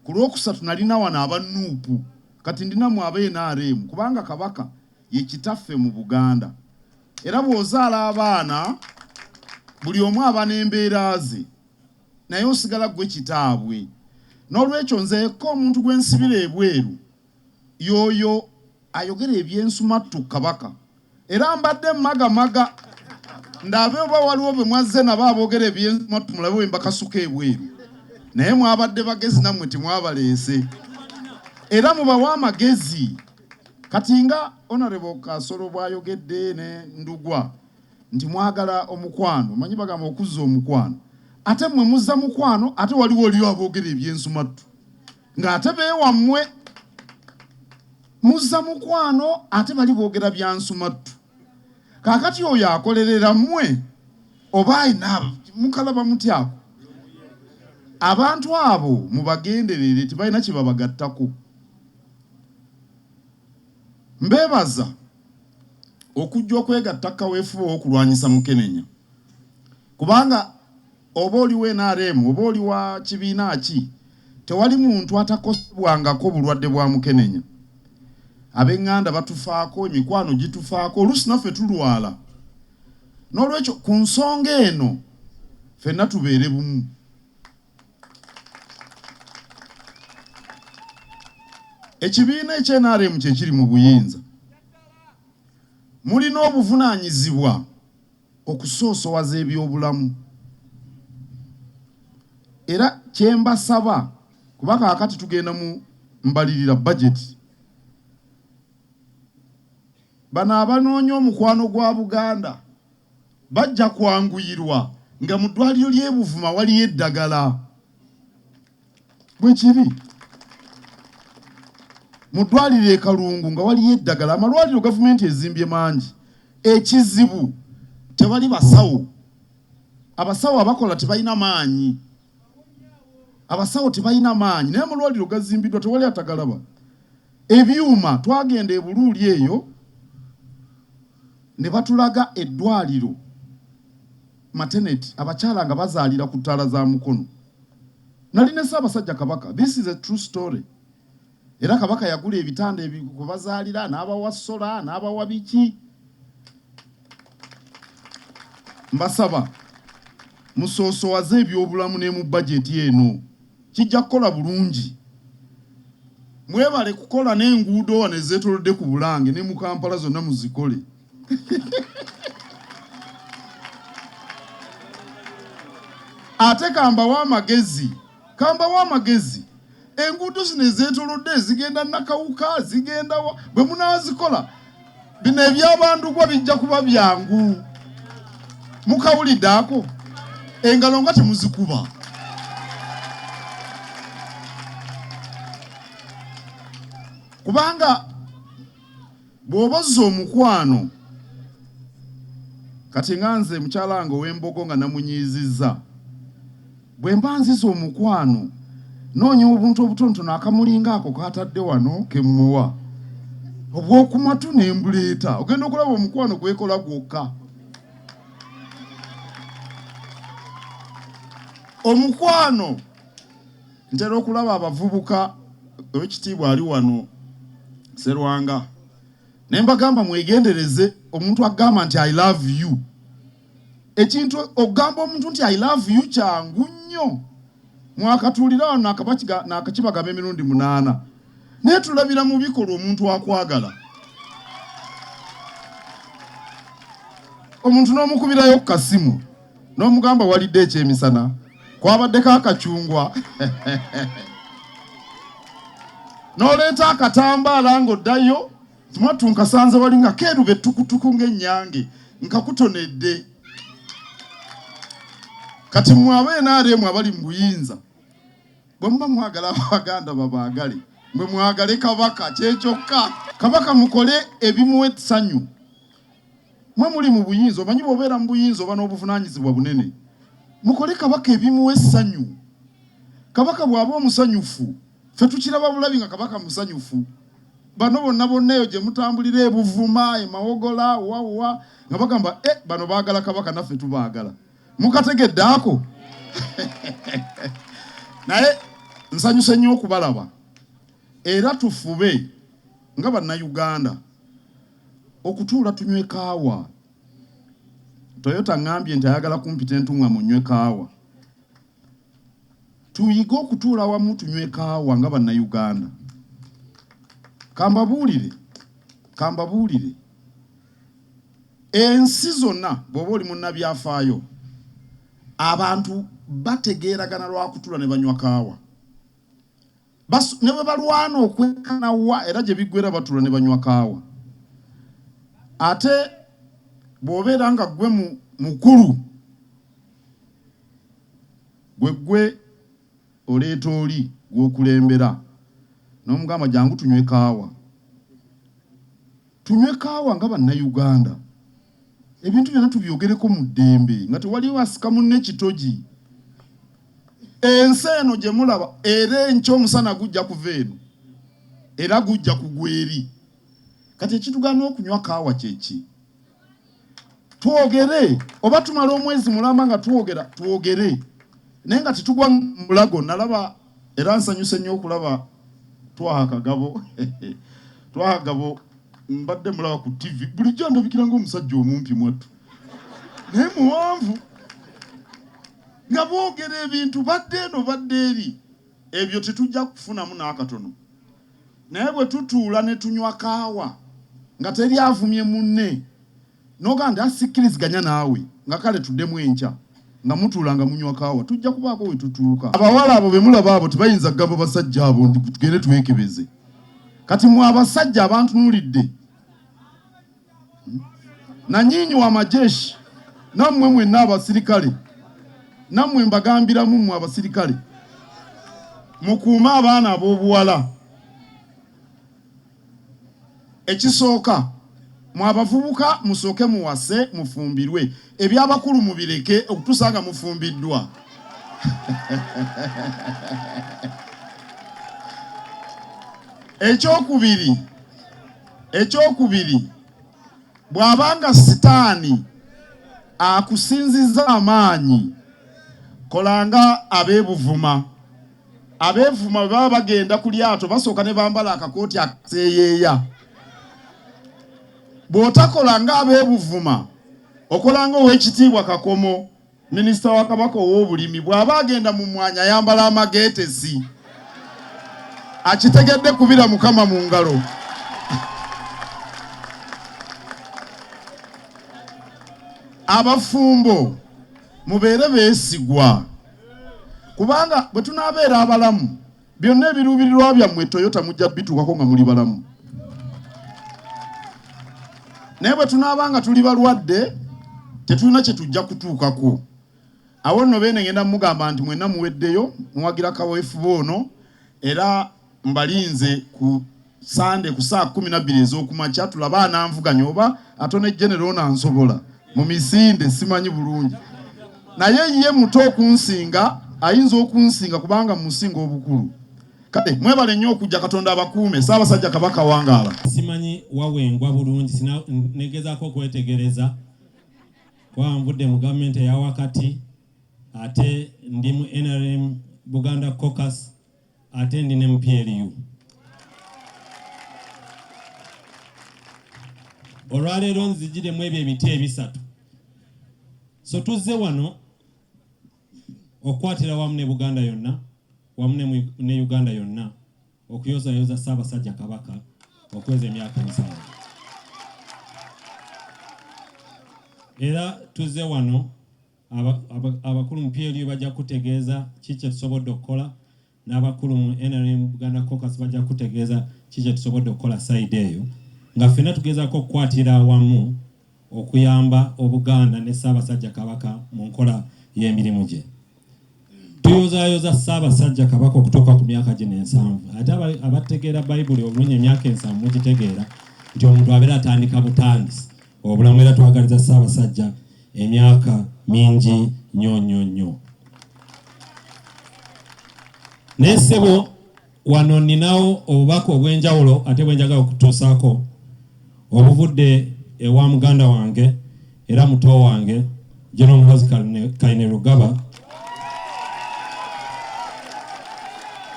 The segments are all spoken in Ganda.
Ku lw'okusatu nalina wano aba nup, kati ndi namwe aba nrm kubanga Kabaka ye kitaffe mu Buganda era bw'ozaala abaana buli omu aba n'embeera ze naye osigala gwe kitaabwe n'olwekyo nze yekka omuntu gwe nsibira ebweru. Yoyo ayogera ebyensumattu ku Kabaka era mbadde mmaga maga ndabe oba waliwo bemwazze nabo abogera ebyensumattu mulabe bwembakasuka ebweru naye mwabadde bagezi nammwe temwabaleese era mubawe amagezi kati nga Honorable Kasolo bwayogedde ne Ndugwa nti mwagala omukwano omanyi bagamba okuzza omukwano ate mmwe muzza mukwano ate waliwo oliyo abogera ebyensumattu. ng'ate beewammwe muzza mukwano ate bali boogera bya nsumattu kaakati oyo akolerera mmwe oba ayina mukalaba mutyako abantu abo mubagenderere tebalina kye babagattako mbeebaza okujja okwegatta kaweefube w'okulwanyisa mukenenya Kubanga oba oli wa nrm oba oli wa kibiina ki, tewali muntu atakosebwangako bulwadde bwa mukenenya. Ab'eŋŋanda batufaako, emikwano gitufaako, oluusi naffe tulwala. N'olwekyo ku nsonga eno ffenna tubeere bumu. Ekibiina ekya nrm kye kiri mu buyinza mulina obuvunaanyizibwa. okusoosowaza ebyobulamu era kye mbasaba kuba kaakati tugenda mu mbalirira, budget, bano abanoonya omukwano gwa Buganda bajja kwanguyirwa nga mu ddwaliro ly'e Buvuma waliyo eddagala. bwe kiri mu ddwaliro e kalungu nga waliyo eddagala amalwaliro gavumenti ezimbye mangi ekizibu tebali basawo abasawo abakola tebalina maanyi abasawo tebalina maanyi naye amalwaliro gazimbiddwa tewali atagalaba ebyuma twagenda ebuluuli eyo ne batulaga eddwaliro Maternity abakyala nga bazaalira ku ttaala za Mukono. Nali ne Ssaabasajja Kabaka, this is a true story, era Kabaka yagula ebitanda kwe bazaalira n'abawa sola n'abawa biki. Mbasaba musoosowaze ebyobulamu ne mu bajeti eno kijja kukola bulungi. Mwebale kukola n'enguudo wano ezeetoolodde ku Bulange ne mu Kampala zonna muzikole ate kambawo amagezi kambawo amagezi enguudo zino ezetolodde zigenda nakawuka zigenda bwe munazikola bino ebyabandugwa bijja kuba byangu mukawulidde ako engalo nga temuzikuba kubanga Bw'oba ozza omukwano, kati nga nze mukyala wange ow'Embogo nga namunyiizizza, bwe mba nzize omukwano noonya obuntu obutonotono akamulinga ako k'atadde wano ke mmuwa obw'oku matu ne mbuleeta. Ogenda okulaba omukwano gwekola gwokka. Omukwano. Ntera okulaba abavubuka, Owekitiibwa ali wano Serwanga, ne mbagamba mwegendereze omuntu akugamba nti I love you. Ekintu okugamba omuntu nti I love you kyangu nnyo. Mwakatuulira wano nakabakiga, nakakibagamba emirundi munaana. Naye tulabira mu bikolwa omuntu akwagala. Omuntu n'omukubirayo ku kasimu. n'omugamba walidde ekyemisana kwabaddeko akacungwa n'oleeta akatambaala ng'oddayo tumwattu nkasanze wali nga keeruba ettukutuku ng'ennyange nkakutonedde kati mmwe aba nrm abali mu buyinza bwe muba mwagala abaganda babaagale mwe mwagale kabaka kyekyokka kabaka mukole ebimuwa essanyu Mwe muli mu buyinza, omanyi bw'obeera mu buyinza oba n'obuvunaanyizibwa bunene. Mukole Kabaka ebimuwa essanyu. Kabaka bw'aba omusanyufu, ffe tukiraba bulabi nga Kabaka musanyufu. Bano bonna bonna eyo gye mutambulira e Buvuma, e Mawogola, wa wa, nga bagamba eh, bano baagala Kabaka naffe tubaagala. Mukategedde ako? Naye nsanyuse nnyo okubalaba era tufube nga Bannayuganda. okutuula tunywe kaawa. Toyota ang'ambye nti ayagala kumpita entung'amu nnywe kaawa. Tuyige okutuula wamu tunywe kaawa nga Bannayuganda. Ka mbabuulire, ka mbabuulire, ensi zonna bw'oba oli munnabyafaayo, abantu bategeeragana lwa kutuula ne banywa kaawa. ne bwe balwana okwekana wa era gye biggwera batula ne banywa kaawa ate bw'obeera nga ggwe mukulu gwe ggwe oleeta oli gw'okulembera n'omugamba jangu tunywe kaawa tunywe kaawa nga bannayuganda ebintu byonna tubyogereko mu ddembe nga tewaliwo asika munne kitogi ensi eno gye mulaba era enky omusana gujja kuva eno era gujja kugwa eri kati ekitugana okunywa kaawa kyeki twogere oba tumala omwezi mulamba nga twogera twogere naye nga tetugwa mulago nalaba Era nsanyuse nnyo okulaba Twaha Kagabo. Twaha Kagabo mbadde mulaba ku TV, bulijjo andabikira ng'omusajja omumpi mwattu, naye muwanvu nga boogera ebintu badde eno badde eri, ebyo tetujja kufunamu n'akatono. Naye bwe tutuula ne tunywa kaawa nga teri avumye munne. N'ogamba nti, Ah, sikkiriziganya naawe. Nga kale tuddemu enkya, nga mutuula nga munywa kaawa. Tujja kubaako we tutuuka. Abawala abo be mulaba abo tebayinza kugamba basajja abo nti, Tugende twekebeze. Kati mmwe abasajja abantunuulidde, Nanyiinyi wa majeshi, nammwe mwenna abasirikale, nammwe mbagambiramu mmwe abasirikale, mukuume abaana ab'obuwala. Ekisooka, mwe abavubuka musooke muwase mufumbirwe, eby'abakulu mubireke okutuusa nga mufumbiddwa. Eky'okubiri, eky'okubiri, bw'aba nga sitaani akusinzizza amaanyi, kola nga ab'e Buvuma. abeevuma bwe baba bagenda ku lyato basooka ne bambala akakooti akaseeyeeya bw'otakola ng'abeebuvuma okola nga ow'ekitiibwa kakomo minisita wa kabaka ow'obulimi bw'aba agenda mu mwanya ayambala amageetesi akitegedde kubira mukama mu ngalo abafumbo mubeere beesigwa kubanga bwe tunaabeera abalamu byonna ebiruubirirwa byammwe toyota mujja bituukako nga muli balamu naye bwe tunaaba nga tuli balwadde tetulina kye tujja kutuukako awo nno beene ngenda mugamba nti mwenna muweddeyo muwagira kaweefuba ono era mbalinze ku sande ku saa kumi nabbiri ez'okumakya tulaba ananvuganya oba atone genero ono ansobola mu misinde simanyi bulungi naye ye muto okunsinga ayinza okunsinga kubanga musinga obukulu kale mwebale nnyo okujja katonda abakuume saabasajja kabaka wangaala simanyi wawengwa bulungi negezako okwetegereza kwanvudde mu gavumenti eyawakati ate ndi mu nrm buganda cocus ate ndi ne mupyeriyu olwaleero nzijiremu ebyo ebiti ebisatu so tuzze wano okukwatira wamu ne buganda yonna wamu ne uganda yonna okuyozayoza ssaabasajja kabaka okweza emyaka musanvu era tuzze wano abakulu mu PLU bajja kutegeeza ki kye tusobodde okukola n'abakulu mu NRM Buganda Caucus bajja kutegeeza ki kye tusobodde okukola sayidi eyo nga ffenna tugezaako okukwatira awamu okuyamba Obuganda ne Ssaabasajja Kabaka mu nkola y'emirimu gye. tuyozaayoza Ssaabasajja Kabaka okutuuka ku myaka gino ensanvu. Ate abategeera Bayibuli obulungi emyaka ensanvu mugitegeera nti omuntu abeera atandika butandisi obulamu, era twagaliza Ssaabasajja emyaka mingi nnyo nnyo nnyo. Naye ssebo Wano nninawo obubaka obw'enjawulo ate bwe njagala okutuusaako obuvudde ewa muganda wange era muto wange General Muhoozi Kainerugaba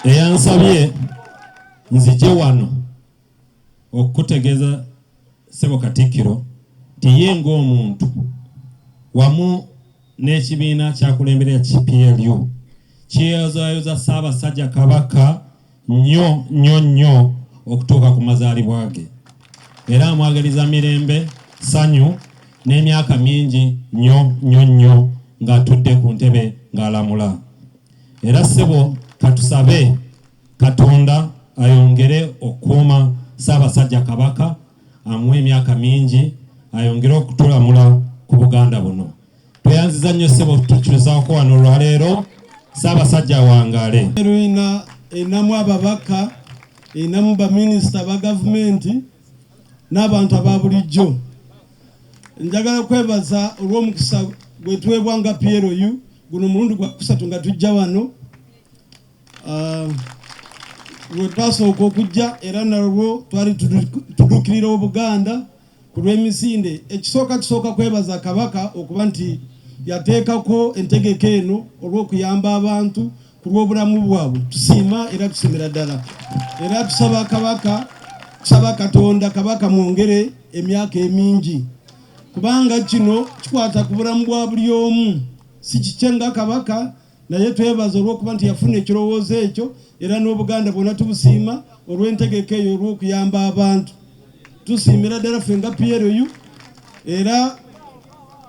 eyansabye nzije wano okukutegeeza Ssebo Katikkiro nti ye ng'omuntu wamu n'ekibiina ky'akulembera ekya PLU kiyozaayoza Ssaabasajja Kabaka nnyo nnyo nnyo okutuuka ku mazaalibwa ge era amwagaliza mirembe, ssanyu n'emyaka mingi nnyo nnyo nnyo ng'atudde ku ntebe ng'alamula. Era ssebo katusabe Katonda ayongere okukuuma Ssaabasajja Kabaka amuwe emyaka mingi ayongere okutulamula ku Buganda buno. Tweyanziza nnyo ssebo tukyuzaako wano olwaleero. Ssaabasajja awangaale. Erina enamu ababaka enamu baminisita ba gavumenti n'abantu aba bulijjo njagala kwebaza olw'omukisa gwetuweebwa nga PLU guno omulundi gwa kusatu nga tujja wano um, lwe twasooka okujja era nalwo twali tuduukirira obuganda ku lw'emisinde ekisooka tusooka kwebaza kabaka okuba nti yateekako entegeka eno olw'okuyamba abantu ku lw'obulamu bwabwe tusiima era tusiimira ddala era tusaba kabaka tusaba katonda kabaka mwongere emyaka emingi kubanga kino kikwata ku bulamu bwa buli omu si kikye nga kabaka naye twebaza olw'okuba nti yafuna ekirowoozo ekyo era n'obuganda bwonna tubusiima olw'entegeka eyo olw'okuyamba abantu tusiimira ddala ffe nga PLU era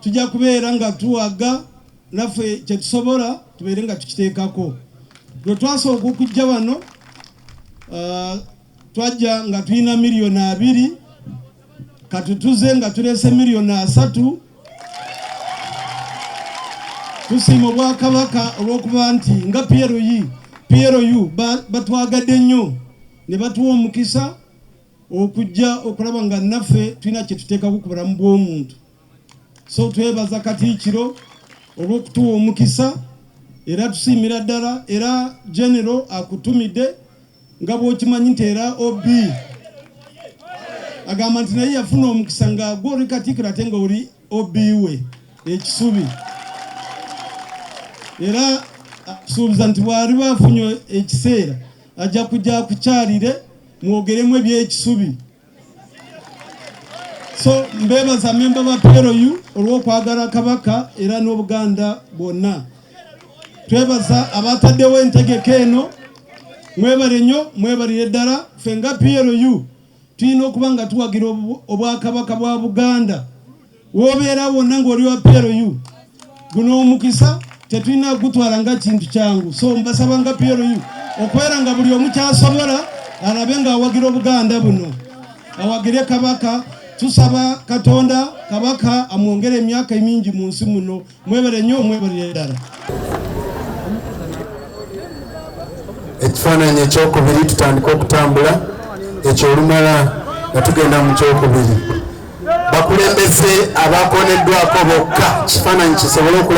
tujja kubeera nga tuwaga naffe kyetusobola tubeere nga tukiteekako lwe twasooka okujja wano uh, twajja nga tulina miliyoni abiri katutuze nga tulese miliyoni asatu tusiima obwakabaka olw'okuba nti nga plu plu batwagadde nnyo ne batuwa omukisa okujja okulaba nga naffe tulina kye tuteekaku ku bulamu bw'omuntu So twebaza Katiikiro olw'okutuwa omukisa era tusiimira ddala era genero akutumidde nga bw'okimanyi nti era ob agamba nti naye yafuna omukisa nga gwoli Katiikiro ate nga oli ob we ekisubi era akusuubiza nti bwali baafunye ekiseera ajja kujja kukyalire mwogeremu eby'ekisubi so mbebaza memba ba PLU olw'okwagala Kabaka era n'Obuganda bwonna twebaza abataddewo entegeka eno mwebale nnyo mwebalire ddala ffe nga PLU tulina okuba nga tuwagira obwakabaka bwa Buganda wobeera wonna ng'oli wa PLU guno omukisa tetulina kugutwala nga kintu kyangu so mbasaba nga PLU okwera nga buli omu kyasobola alabe nga awagira obuganda buno awagire kabaka tusaba katonda kabaka amwongere emyaka emingi mu nsi muno mwebale nnyo mwebalire ddala ekifaananyi ekyokubiri tutandika okutambula ekyo olumala nga tugenda mu kyokubiri bakulembeze abakoneddwako bokka kifaananyi kisobole okulaba